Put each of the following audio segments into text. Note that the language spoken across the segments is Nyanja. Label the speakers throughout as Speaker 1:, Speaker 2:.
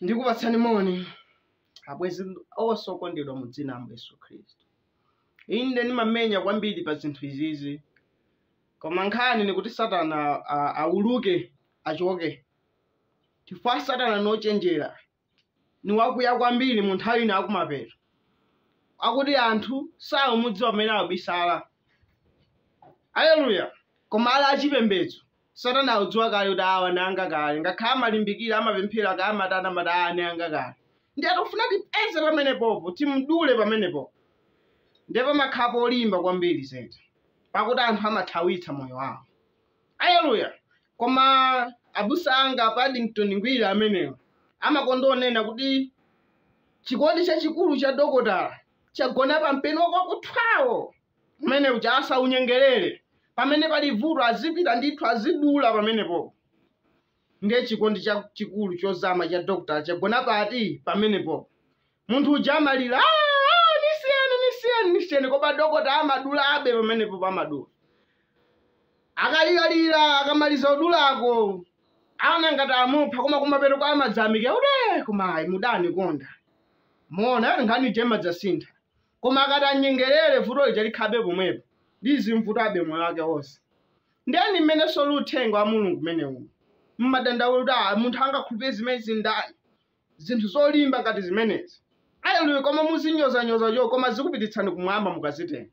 Speaker 1: ndikupatsani moni abwezi onse okondedwa mu dzina la yesu khristu inde ndimamenya kwambiri pa zinthu izizi koma nkhani nikuti satana a- auluke achoke chifukwa satana nochenjera ni wakuya kwambiri mu nthawi ino yakumapeto akuti anthu saumudziwa pamene akubisala aleluya koma ali achipembedzo satana akudziwa kale kuti awa ni anga kale ngakhale amalimbikira amapemphera kaya amatana amati awa ni anga kale ndiye tofuna tipeze pamenepopo timdule pamenepopo ndiye pamakhapo polimba kwambiri zedi pakuti anthu amathawitsa moyo wawo aleluya Koma abusa anga a Paddington Ngwira amenewo amakonda onena kuti chikondi chachikulu cha dokotala chagona pa mpeni wakuthwawo umene uja asanyengerere pamene pali vuto azipita ndithu azidula pamenepo ndiye chikondi chachikulu chozama cha dokotala chagona pati pamenepo munthu uja amalira "Ah, ah, nisiyeni nisiyeni nisiyeni koma dokota amadulabe pamenepo amadula akaliralira akamaliza udulako anangati amupha koma kumapeto kwake amadzati kuti koma ayi mudanikonda mwaona ati nkhani ija imadzasintha koma akati anyengerere vuto lija likhalabe pomwepo lizimvutabe moyo wake wonse nde ni mmenenso uli uthenga wa mulungu umenewu mmadandaula kuti "Ah, munthu angakhulupirire zimene zindalama zinthu zolimba ngati zimenezi aleluya koma muzinyozanyoza cho koma zikupititsani kumwamba mukazitenga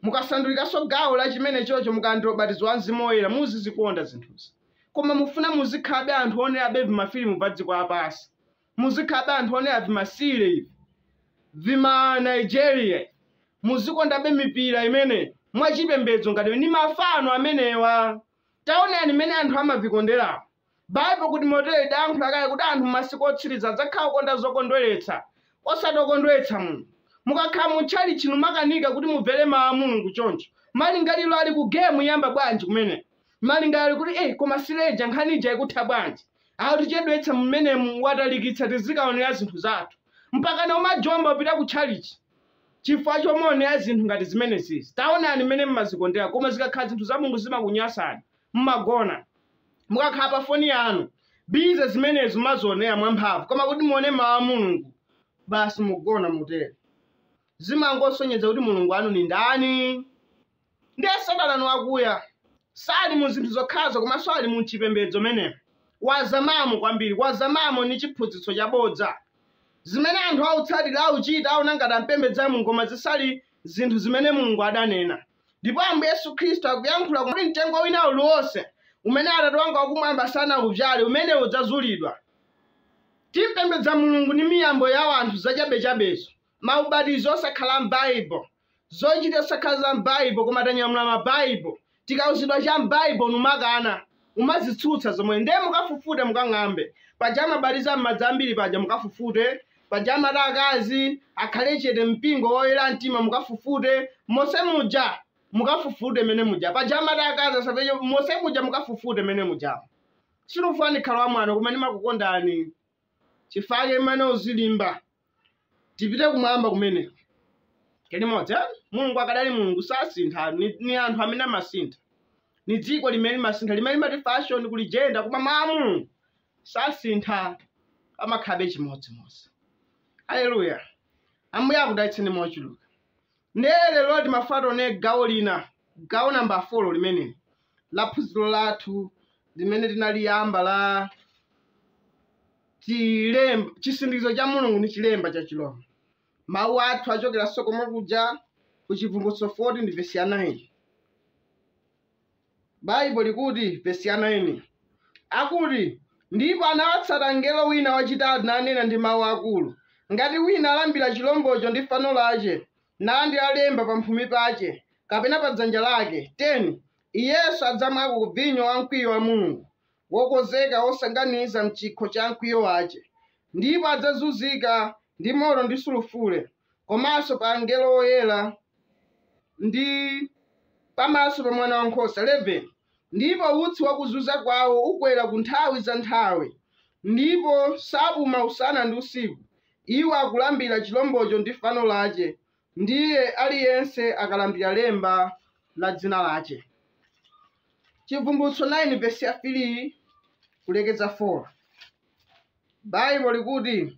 Speaker 1: mukasandulikanso gawo la chimene chocho mukalandira ubatizo wa mzimu woyera muzizikonda zinthuzi koma mufuna muzikhalabe anthu onerabe vimafilimu pa dziko lapansi muzikhalabe anthu onera vimasile ivi vima nigeria muzikondabe mipira imene mwa chipembedzo ngati ni mafano amenewa taonani mmene anthu amavikonderawo Baibulo kuti motere lidayankhula kale kuti anthu m'masiku otsiriza adzakhala okonda zokondweretsa, osati okondweretsa Mulungu. Mukakhala mu tchalitchi numakanika kuti mumvere Mau a Mulungu choncho, malingaliro ali ku gemu yayamba bwanji kumeneko? Malingaliro ali kuti ee koma sile ija nkhani ija ikutha bwanji? Akutichedwetsa m'menemu watalikitsa tizikaonera zinthu zathu. Mpakana umajomba upita ku tchalitchi chifukwa chomaonera zinthu ngati zimenezizi. Taonani m'mene m'mazikondera koma zikakhala zinthu za Mulungu zimakunyasani, m'magona. mukakhala pa foni yanu busy zimenezo mumazionera mwamphamvu koma kuti muone mawu a mulungu basi mugona mutero zimangosonyeza kuti mulungu anu ni ndani ndiye satana ni wakuya sali mu zinthu zokhazo komanso ali mu chipembedzo menemo wazamamo kwambiri wazamamo ni chiphunzitso chabodza zimene anthu autsatira auchita auona ngati ampembedza mulungu koma zisali zinthu zimene mulungu adanena Ndipo Ambuye Yesu Khristu akuyankhula kuti mtengo wina uliwonse umene Atate wanga wakumwamba sanaudzale, umenewo udzazulidwa. Timpembedza Mulungu ndi miyambo ya anthu zachabechabezo, maubatizo osakhala m'Baible, zochita zosakhala za m'Baible koma tanyamula ma Baible, tikauzidwa cha m'Baible numakana. mumazitsutsa zomwe nde mukafufute mukang'ambe paja amabatiza m'madzi ambiri paja mukafufute paja amati akazi akhale chete mpingo woyera mtima mukafufute mose muja mukafufute mene muja paja amati akazi asapeche mose muja mukafufute mene muja sinufuna nkhala wamwano koma ndimakukondani chifake imene uzilimba tipite kumwamba kumeneko limodzi eh? mulungu akadali mulungu sasintha ni, ni anthu amene amasintha ni dziko limene limasintha limene limati fashion kuli jenda koma mawu a mulungu sasintha amakhabe chimodzimodzi haleluya ambuye akudalitseni mochuluka Nde lelo timafuna tione gawo lina, gawo namba folo limeneli, la phunzilo lathu limene tinaliyamba la cilem, Cisindikizo ca Mulungu ndi Cilemba ca Cirombo. Mau athu acokelanso komwe kuja ku Cibvumbulutso 14 ndi vesi ya 9. Baibo likuti, vesi ya 9, akuti, Ndipo anawatsata mngelo wina wacitatu, nanena ndi mau akuru, Ngati wina alambira ciromboco ndi fano lace, nalandira lemba pamphumi pace, kapena pa dzanja lake, 10 iyenso adzamwako ku vinyo wa mkwiyo wa Mulungu, wokonzeka wosanganiza m'chikho cha mkwiyo wace, ndipo adzazunzika ndi moto ndi sulufure, komanso pa angelo oyera, ndi pamaso pa mwana wankhosa, 11 ndipo utsi wa kuzunza kwawo ukwera ku nthawi za nthawi, ndipo sapuma usana ndi usiku, iwo akulambira chilombocho ndi fano lace, Ndiye aliyense akalambira lemba la dzina lace. Cibvumbulutso 9 vesi ya 3 kulekeza 4 Baibo likuti,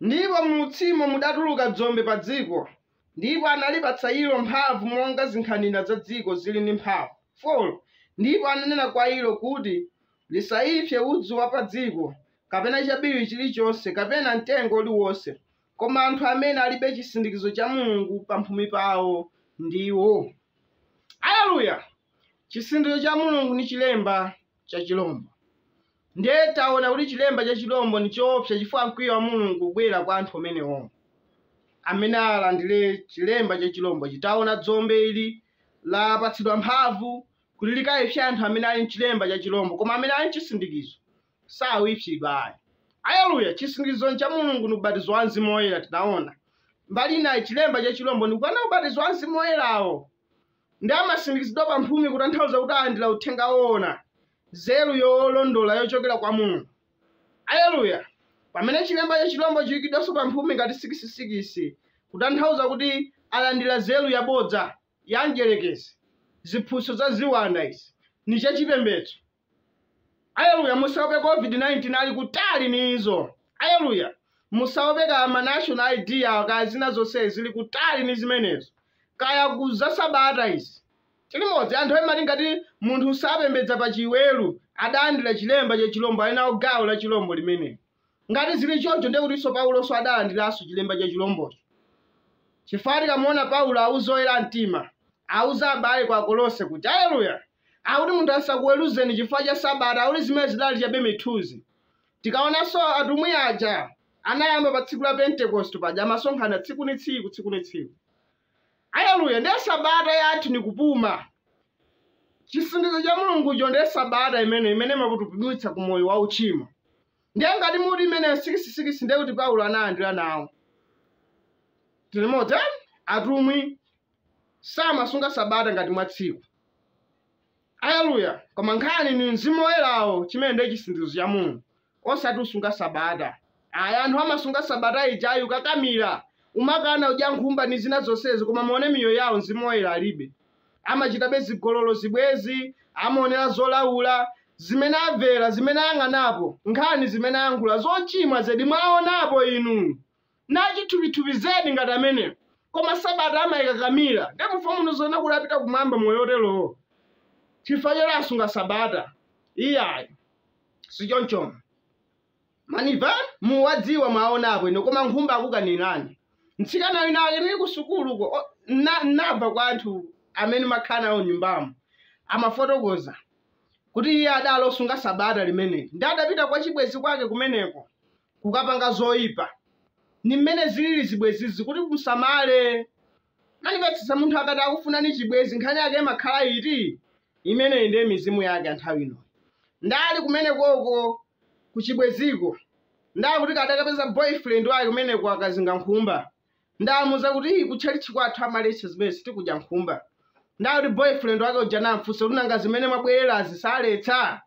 Speaker 1: Ndipo m'utsimo mudatuluka dzombe pa dziko, ndipo analipatsa ilo mphamvu monga zinkhanira za dziko ziri ndi mphamvu, 4 ndipo ananena kwa ilo kuti, lisaipse udzu wa pa dziko, kapena chabiriwiri chilichonse, kapena mtengo uliwonse, koma anthu amene alibe chisindikizo cha Mulungu pamphumi pawo ndiwo. Aleluya! Chisindikizo cha Mulungu ni chilemba cha chilombo. Ndiye taona kuti chilemba cha chilombo ni choopsa chifukwa mkwiyo wa Mulungu ubwera kwa anthu amenewo amene alandire chilemba cha chilombochi. Taona dzombe ili lapatsidwa mphamvu kuti likaipse anthu amene ali ni chilemba cha chilombo koma amene ali ni chisindikizo sawipsidwa ayi aleluya chisindikizo cha mulungu ndi ubatizo wa mzimu woyera tinaona mbali inayi chilemba cha chilombo ndi kukana ubatizo wa mzimu woyerawo ndi amasindikizidwa pa mphumi kutanthauza kuti alandira uthenga woona nzeru yolondola yochokera kwa mulungu aleluya pamene chilemba cha chilombo chiyikidwanso pa mphumi ngati sikisisikisi kutanthauza kuti alandira nzeru yabodza ya mdyerekezi ziphunzitso za ziwanda izi ni chachipembedzo aleluya musaope covid 19 ali kutali ni izo aleluya musaope kaya ma national id awo kaya zina zonse zili kutali ni zimenezo kaya ku za sabata izi tili limodzi anthu amati ngati munthu sapembedza pa chiweru adalandira chilemba cha chilombo ali nalo gawo la chilombo limeneli Ngati zili choncho, ndiye kutinso Paulonso adalandiranso chilemba cha chilombocho, chifukwa tikamuona Paulo auza oyera mtima, auza abale kwa Akolose kuti, Alleluya, akuti munthu asakuweruzeni chifukwa cha Sabata, akuti zimenezo zidali chabe mithunzi. Tikaonanso atumwi aja, anayamba pa tsiku la Pentekosti paja amasonkhana tsiku ni tsiku, tsiku ni tsiku. Aleluya! Ndiye sabata yathu ni kupuma. Chisindikizo cha Mulungucho ndiye sabata imene imene imakupumulitsa ku moyo wa uchimo. Ndiye ngati muti imeneyo ni sikisisikisi ndiye kuti Paulo analandira nawo. Tili limodzi eh? atumwi samasunga sabata ngati mwa tsiku. Aleluya! Koma nkhani ni mzimu woyerawo chimene ndiye chisindikizo cha Mulungu. osati usunga sabata ayi anthu amasunga sabata ija kukakamira umakana udya nkhumba ni zina zonsezi koma muone miyoyo yawo mzimu woyera alibe amachitabe zigololo zibwenzi amaonera zolaula zimene avera zimene ayang'anapo nkhani zimene ayankhula zochimwa zedi mwaonapo inu Ni achithupithupi zedi ngati ameneyo koma sabata amaikakamira nde mufuna muone zoona kuti apita kumwamba moyo otelowo chifukwa choti asunga sabata iyayi si chonchomo mwaniva muwadziwa mwaonapo inu koma nkhumba akukanirani mtsikana wina ake nili ku sukuluko o- na- nava kwa anthu amene amakhala nawo m'nyumbamo amafotokoza kuti iye adali osunga sabata limeneli ndi adapita kwa chibwenzi kwake kumeneko kukapanga zoyipa ni mmene zilili zibwezizi kuti musamale mwanipeza munthu akati akufunani chibwezi nkhani yake imakhala iti imeneyi ndiye mizimu yake anthawi ino ndakumeneko ko kuchibweziko ndakuti kadakapeza boyfriend wake kumeneko akazinga nkhumba Ndamuuza kuti ku chalichi kwathu amaletsa zimene sitikudya nkhumba. Ndakuti boyfriend wake uja namfunsa kuti nanga zimene mwabwererazi saletsa?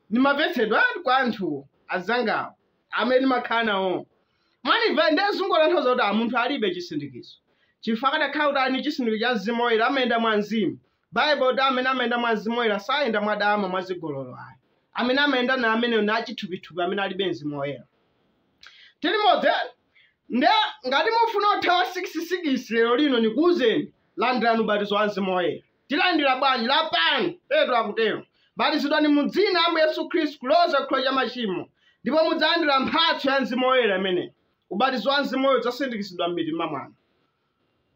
Speaker 1: Nimamvetsedwa kwa anthu azangawo, amene nimakhala nawo. Mwanimva nde zungotanthauza kuti munthu alibe chisindikizo. Chifukwa akadakhala kuti ali ndi chisindikizo cha Mzimu Oyera amayenda mwa Mzimu. Baibulo ikuti, Amene amayenda mwa mzimu woyela sayenda mwadama, mwa zigololo ayi. Amene amayenda na amene ni achithupithupi amene alibe mzimu woyela. Tili limodzi, Nde ngati mufuna kuthawa sikisi-sikisi lelo lino, nikuuzeni, Landilani ubatizo wa mzimu woyela. Tilandila bwanji? Lapani! Petro akutelo. Batizidwani mu dzina la Ambuye Yesu Khristu kuloza chikhululuko cha machimo, ndipo mudzalandila mphatso ya mzimu woyela imeneyi. Ubatizo wa mzimu woyela udzasindikizidwa m'mitima mwanu.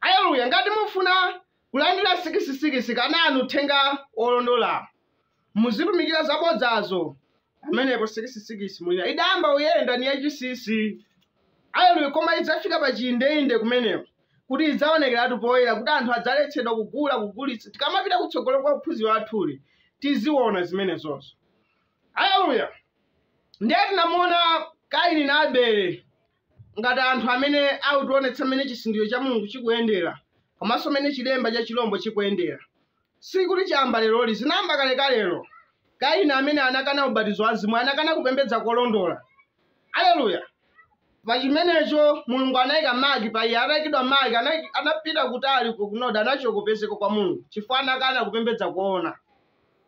Speaker 1: Aleluya! Ngati mufuna kulandira sikisi-sikisi, kanani uthenga wolondola. Muzitumikira zabodzazo. Amenewo sikisi-sikisi mwina idayamba kuyenda ni yachisisi. Aleluya! Koma idzafika pa chiindeinde kumeneko, kuti idzaonekeratu poyera, kuti anthu adzaletsedwa kugula, kugulitsa. Tikamapita kutsogolo kwa phunziro lathuli, tiziona zimenezozo. Aleluya! Ndiye tinamuona Kaini na Abele. Ngati anthu amene akutionetsa mmene chisindikizo cha Mulungu chikuyendera komanso mmene chilemba cha chilombo chikuyendera sikuti chayamba leroli, zinayamba kalekalelo. Kaini amene anakana ubatizo wa mzimu anakana kupembedza kolondola. Aleluya! Pa chimenecho Mulungu anaika maki pa iye, ataikidwa maki, anapita kutali uko ku Nodi, anachoka kupezeka kwa Mulungu chifukwa anakana kupembedza koona,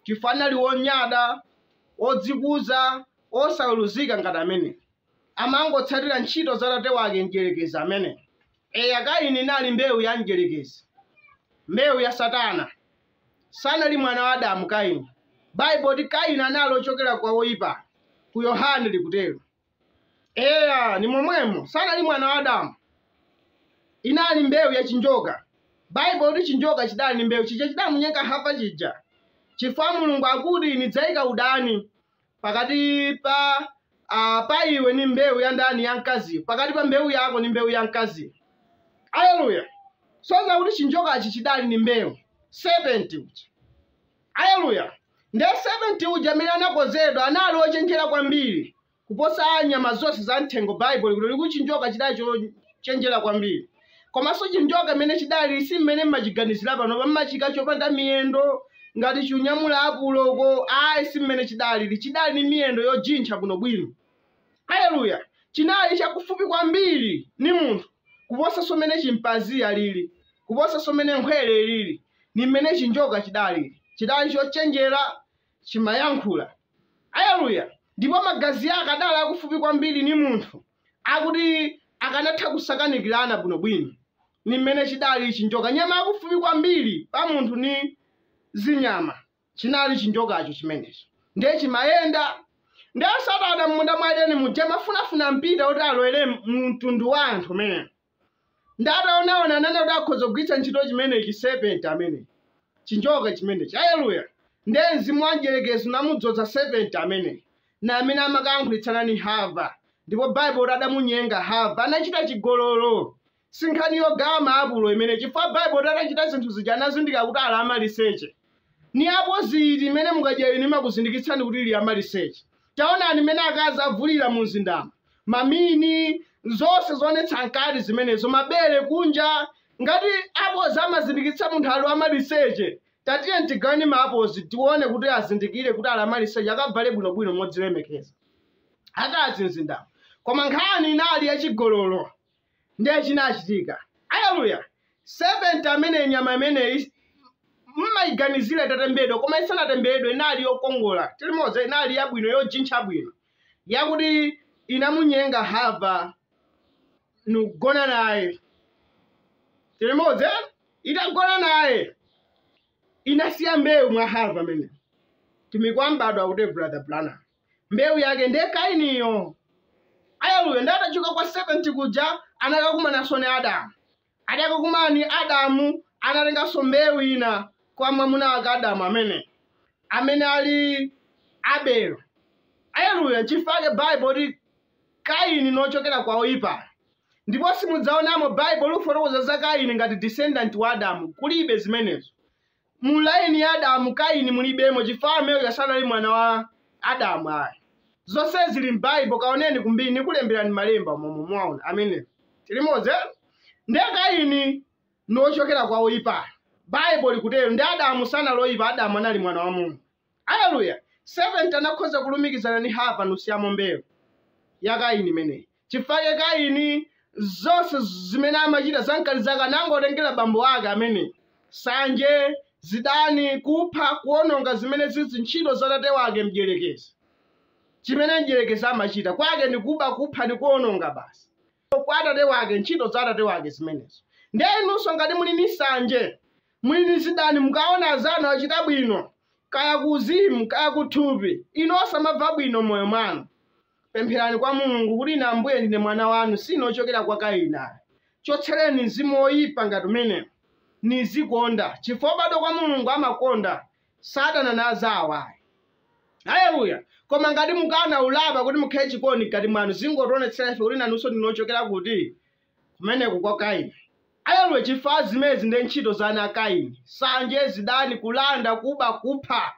Speaker 1: chifukwa anali wonyada, wodzikuza, wosaweruzika ngati ameneyu. amangotsatira ntchito za tate wake, Mdyerekezi ameneyu. Eya, Kaini inali mbewu ya Mdyerekezi, mbewu ya Satana. Sanali mwana wa Adamu, Kaini. Baibulo kuti Kaini anali ochokera kwa woyipayo, ku Yohane likutero. Eya, ni momwemo, sanali mwana wa Adamu. Inali mbewu ya chinjoka. Baibulo kuti chinjoka chidali ni mbewu chija chidamunyenga Hava chija. Chifukwa Mulungu akuti nidzayika udani pakati pa iwe ni mbewu ya ndani ya mkaziyo pakati pa mbewu yako ni mbewu ya mkaziyo aleluya soza kuti chinjokachi chidali ni mbewu serpent uja aleluya nde serpent uja amene anakonzedwa anali ochenjera kwambiri kuposa nyama zonse za mthengo baibulo kuti likuti chinjoka chidali chochenjera kwambiri komanso chinjoka mmene chidali si mmene mmachiganizira panopa mmachijambula chopanda miyendo ngati chonyamula apulo uko ayi si mmene chidalili chidali ni miyendo yojintcha bwinobwino haleluya chinali chakufupi kwambiri ni munthu kuposanso mmene chimpanzi alili kuposanso mmene nkhwere ilili ni mmene chinjoka chidalili chidali chochenjera chimayankhula haleluya ndipo magazi ake adali akufupi kwambiri ni munthu oti akanatha kusakanikilana bwinobwino ni mmene cidali cinjoka. Nyama yakufupi kwambili pa munthu ni zinyama, cinali cinjokaco cimeneco. Ndiye cimayenda. Ndiye Satana m'munda mwa Edeni muja amafunafuna mpita kuti alowele mu mtundu wa anthu umenewo. nde ataonaona anaona kuti akhoza kugwiritsa ntchito chimenechi serpent amene chinjoka chimenechi aleluya nde mzimu wa mdyerekezi unamudzodza serpent amene ndi amene amakayankhulitsana ni hava ndipo baibulo likuti adamunyenga hava anachita chigololo sinkhani yogawa maapulo imene chifukwa baibulo likuti atachita zinthu zija anazindikira kuti ali amaliseche Ni apozi iti imene mukadya inu imakuzindikitsani kuti muli amalisece? Taonani mmene akazi avulila mu mzindamo, mamini, zonse zoonetsa mkati zimenezo, mabele kunja. Ngati apozi amazindikitsa munthu ali wamalisece, tatiyeni tigaweni maapozi tione kuti azindikile kuti ali amalisece akavale bwino-bwino modzilemekeza. Akazi mzindamo. Koma nkhani inali yacigololo. Ndiye chinachitika, Aleluya! Serpenti amene nyama imeneyi mmaiganizira itatembedwa, koma isanatembedwe inali yokongola, tilimodzi inali yabwino, yojintcha bwino, yakuti inamunyenga Hava nkugona naye, tilimodzi itagona naye inasiya mbewu mwa Hava amene mtumiki wa m'bado kuti brother Branham mbewu yake ndiye kainiyo aleluya nde atachoka kwa serpent kuja anakakumananso ni adamu atakakumana ni adamu anatenganso mbewu ina kwa mwamuna wake adamu amene amene ali abelo aleluya nchifake baibo likuti kaini nochokera kwa oyipayo ndipo simudzaonamo baibo likufotokoza za kaini ngati descendant wa adamu kulibe zimenezo Mu line ya Adamu, Kaini mulibemo chifukwa amene uja sanali mwana wa Adamu ayi. Zonse zili m'Bible, kaoneni kumbiri nikulemberani malemba momwe mwaona amene. Tilimodzi eh? Nde Kaini ni ochokera kwa oipayo. Bible likutero. Nde Adamu sanali oipa, Adamu anali mwana wa Mulungu. Aleluya! Serpent anakhoza kulumikizana ndi Hava, nkusiyamo mbewu ya Kaini imeneyi. Chifake Kaini, zonse z- zimene amachita zankhanza zake anangotengera bambo ake amene, sanje, zidani, kupha, kuononga zimene zili ntchito za tate wake mdyerekezi. Chimene mdyerekezi amachita kwake ndi kuba, kupha ndi kuononga basi. kwa atate wake ntchito za atate wake zimenezo ndiye inunso ngati muli ni sanje muli ni zidani mukaona azanu achita bwino kaya kuzimu kaya kuthupi inu osamabva bwino mmoyo mwanu pempherani kwa mulungu kuti ine ambuye ndine mwana wanu sine ochokera kwa kainayi chotsereni mzimu woyipa ngati umenewo nizikonda chifukwa obadwa kwa mulungu amakonda sadana nawo azawo ayi haleluya koma ngati mukana kulapa kuti mukhale chikondi mkati mwanu zingotionetsera ife kuti nanunso ndinu ochokera kuti kumeneko kwa kaini haleluya chifukwa zimenezi ndi ntchito za ana a kaini sanje zidani kulanda kuba kupha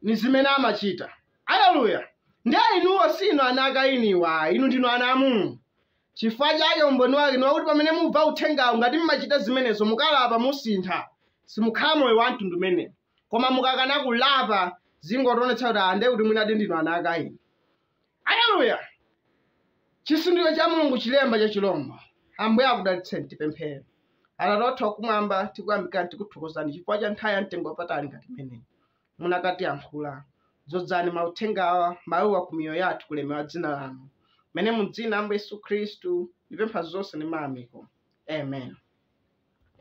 Speaker 1: ni zimene amachita haleluya ndiye inuwo sinu ana a kainiwa inu ndinu ana a mulungu Chifukwa chake umboni wake ni wakuti pamene mumva uthengawo, ngati mumachita zimenezo, mukalapa, musintha, simukhala moyo wa mtundu umenewo. Koma mukakana kulapa, zingotionetsa kuti ah, ndiye kuti mwinadi ndinu ana a Kaini. Aleluya! Chisindikizo cha Mulungu chilemba cha chilombo. Ambuye akudalitseni tipemphere. Atate athu akumwamba, tikuyamikani tikuthokozani chifukwa cha nthawi ya mtengo wapatali ngati imeneyi. munakatiyankhula. Dzodzani mauthengawa, mauwa ku miyoyo yathu kulemekeza dzina lanu. Mmene mu dzina Ambuye Yesu Khristu, ndipempha zonse ndi mayamiko. Amen.